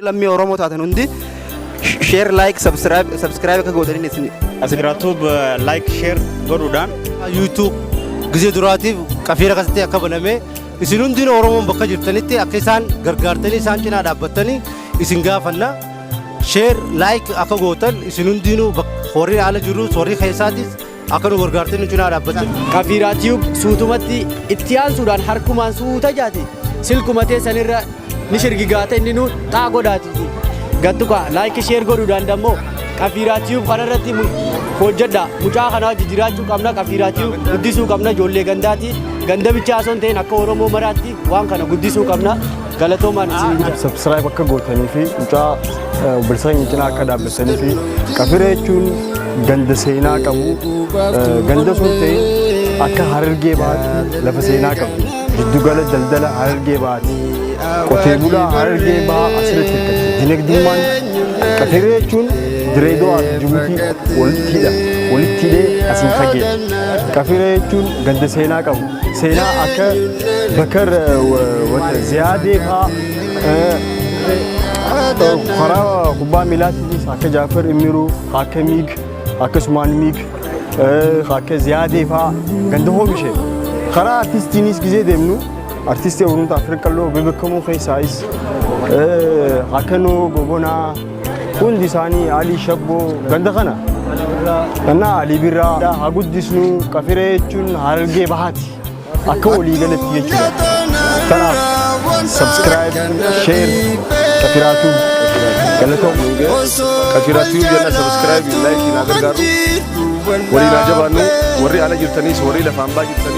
Lammii Oromoo taatan hundi share like subscribe subscribe akka gootaniin isin Asgiraatuub like share godhuudhaan YouTube gizee duraatiif qafiira akkasitti akka baname isin hundin Oromoon bakka jirtanitti akka isaan gargaartanii isaan cinaa dhaabbattanii isin gaafanna share like akka gootan isin hundinuu bak- warri ala jirus warri keessaatis Akka nu gargaartee nu cinaa dhaabbachuu. Kafiiraa Tube suutumatti itti aansuudhaan harkumaan suuta jaati silkuma teessanirra ni shirgigaata inni nu xaa godhaati. Gattuqa laayikii sheer godhuudhaan dammoo Kafiiraa Tube kanarratti mu- hojjedha. Mucaa kana wajji jiraachuu qabna Kafiiraa Tube guddisuu qabna ijoollee gandaati. Ganda bichaa osoo hin ta'in akka Oromoo maraatti waan kana guddisuu qabna. Galatoomaan isin guddaa. Subscribe akka gootanii fi mucaa obboleessa keenya cinaa akka dhaabbatanii fi qafira jechuun ganda seenaa qabu eh, ganda sun ta'e akka harargee bahaatti lafa seenaa qabdu giddugala daldala harargee bahaatti qotee bulaa harargee bahaa asirratti hirkatti dinagdummaan qafira jechuun direedoo fi jibuutii walitti hidha walitti hidhee asiin fageedha qafira jechuun ganda seenaa qabu seenaa akka bakar wata ziyaadee faa karaa kubbaa miilaatiinis akka jaafar immiruu akka miig akkasumaan miig akka ziyaadee faa ganda hoomishe karaa artistiinis gizee deemnu artistii oromoo afrikaa loo bebekamuu keessaayis akka noo gobonaa Hundi isaanii Alii Shabboo ganda kana. Gannaa Alii Birraa haa guddisnu qafiree jechuun harargee bahaati. Akka walii galatti jechuudha. Kanaaf subscribe, share, qafiraa tube galatoom. Qafiraa tube jenna subscribe, like na gargaaru. Waliin haa jabaannu warri ala jirtanis warri lafaan baa jirtanis.